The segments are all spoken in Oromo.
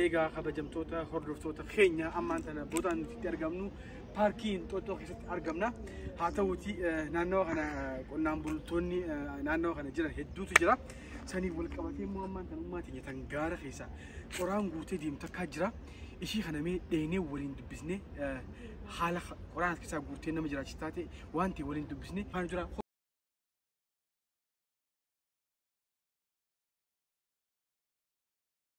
Eegaa kabajamtoota hordoftoota keenya ammaan tana boodaan nuti argamnu paarkii Inxooxxoo keessatti argamna. Haa ta'uuti naannawa kana qonnaan bultoonni naannawa kana jiran hedduutu jira. Saniif wal qabatee immoo ammaan tana ummaa teenya tan gaara keessa qoraan guutee deemtu takkaa jira. Ishii kana mee dheenee waliin dubbisnee haala qoraan as keessaa guurtee nama jiraachis taate waan ta'e waliin dubbisnee faana jira.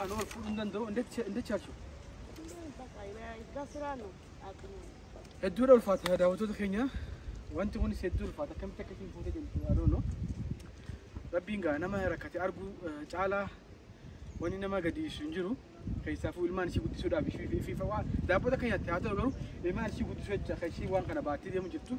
Ani wal fuudhuu hin danda'u. Inda chaachuu. Hedduudha ulfaata daawwattoota keenya. Wanti kunis hedduu ulfaata. Akkamitti akka isin fuute jentu adoonoo. Rabbiin gaa nama rakkate arguu eh, caalaa wanni nama gadiisu hin jiru. Keessaafuu ilmaan ishii guddisuudhaaf ishii fi fi waa daabbota akka nyaatte haa ta'u garuu ilmaan ishii guddisuu jecha kan ishii waan kana baattee deemu jirtu.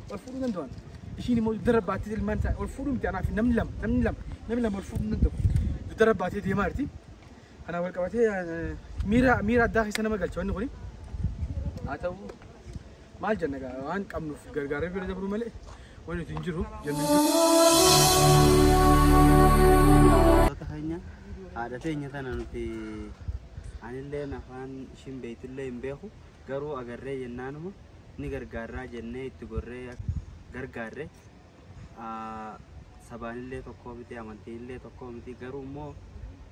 ol fuudhuu danda'an. Ishiin immoo dugda irra baattee ilmaan isaa ol fuudhuu miti anaa fi namni lama namni lama namni lama ol fuudhuu hin danda'u. Dugda irra baattee deemaa jirti. Kanaan wal qabatee eh, miira miira addaa keessa nama galcha wanni kuni. Haa ta'u maal jenna egaa waan qabnuuf gargaarree bira dabruu malee wanni nuti hin jiru jennu hin jiru. Wantoota keenya haadha teenya tana nuti anillee afaan ishiin beektullee hin beeku Garuu agarree jennaanuma ni gargaarraa jennee itti gorree gargaarre. Sabaanillee tokkoo miti, amantiinillee tokkoo miti. Garuu immoo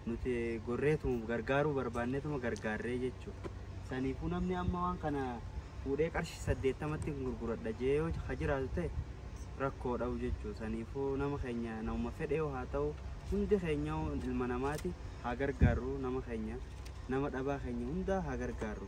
nuti gorreetuma gargaaruu barbaanneetuma gargaarree jechuudha. Saniifuu namni amma waan kana fuudhee qarshii saddeettamatti gurguradha jee yoo ka jiraatu ta'e rakkoo dhabu jechuudha. Saniifuu nama keenya nama fedhee haa ta'u hundi keenya ilma namaati haa gargaarru nama keenya nama dhabaa keenya hundaa haa gargaarru.